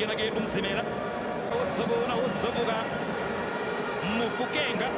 yena ke umzimela uzobona uzobuka mufukenga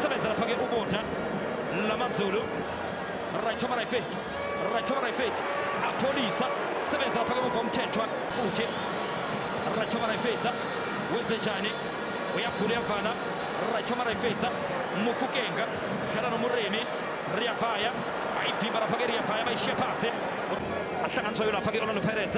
sebenza lapha ke ubota lamazulu right over right right over right apholisa sebenza lapha ke muvomthethwa futhi right over right wenzenjani uyaphula uyavala right over right mufukenga dlala nomuremi riyabhaya ayivimba lapha ke riyabhaya bayishiye phansi ahlanganiswayo lapha ke orlando pirates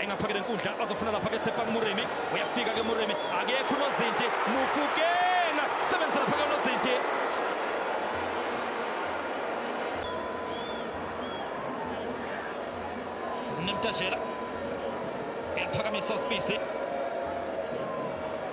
engaphakele nkundla bazofuna lapha ke Tshepang Moremi uyafika ke Moremi akekho unozinti mufukena sebenza lapha ke unozinti Nemtajela yaphakamisa uSibisi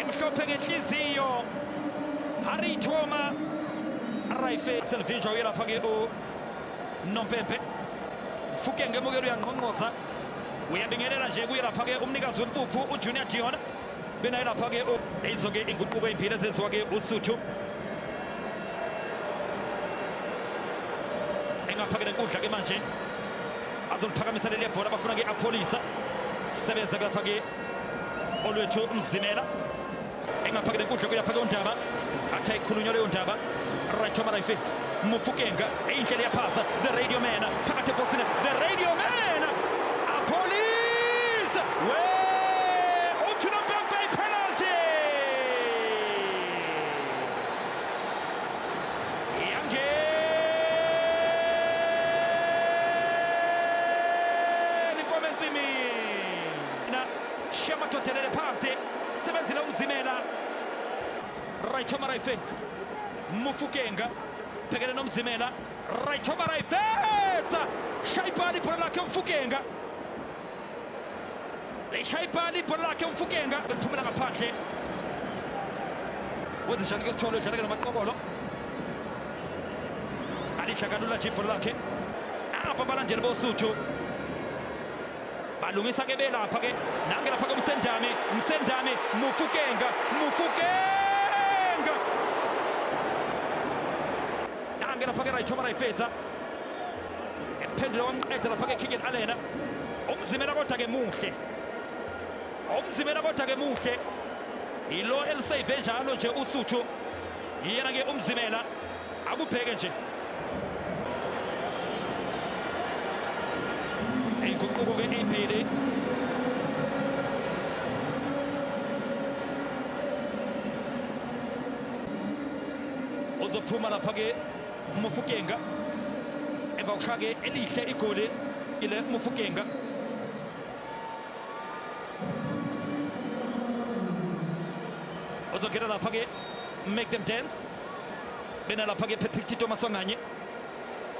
emhlophe ngenhliziyo harry toma raife selvinjwa uyelapha ke unompempe fuke ngemukelo uyangqongqoza uyabingelela nje kuyelapha ke umnikazi wempuphu ujunior diona benayelapha ke izo ke inguquko eyimbili ezenziwa ke usuthu engaphakele nkundla ke manje azoliphakamisa leli bhola bafuna ke apholisa sebenza kulapha ke olwethu mzimela engafake le nkundla kuyafake undaba athi ayikhulunywa leyo ndaba right over right fits mufukenga eyindlela yaphasa the radio man phakathi ebhokisini the radio man apolice we uthi nompempe ipenalty yangeni komensimini na shema totelele phansi sebenzile umzimela right over right fence mufukenga bhekene nomzimela right over right fence shayibhali ibhola lakhe umfukenga lishayibhali ibhola lakhe umfukenga liphumela ngaphandle wezishani ke sithole udlaleke namaqokolo alidla kalula nje ibhola lakhe apha abalandeli bosuthu balungisa ke belapha ke nange lapha kumsendame msendame mufukenga mufukenga nange lapha ke rayithoma rayifedza ephendula wamqeda lapha ke kiken alena umzimela kodwa ke muhle umzimela kodwa ke muhle yilo elisave njalo nje usuthu yena ke umzimela akubheke nje inguquko ke indile uzophuma lapha ke umufukenga emva kokushaya ke elihle igoli ile umufukenga uzongena lapha ke make them dance bena lapha-ke patrick tito maswanganye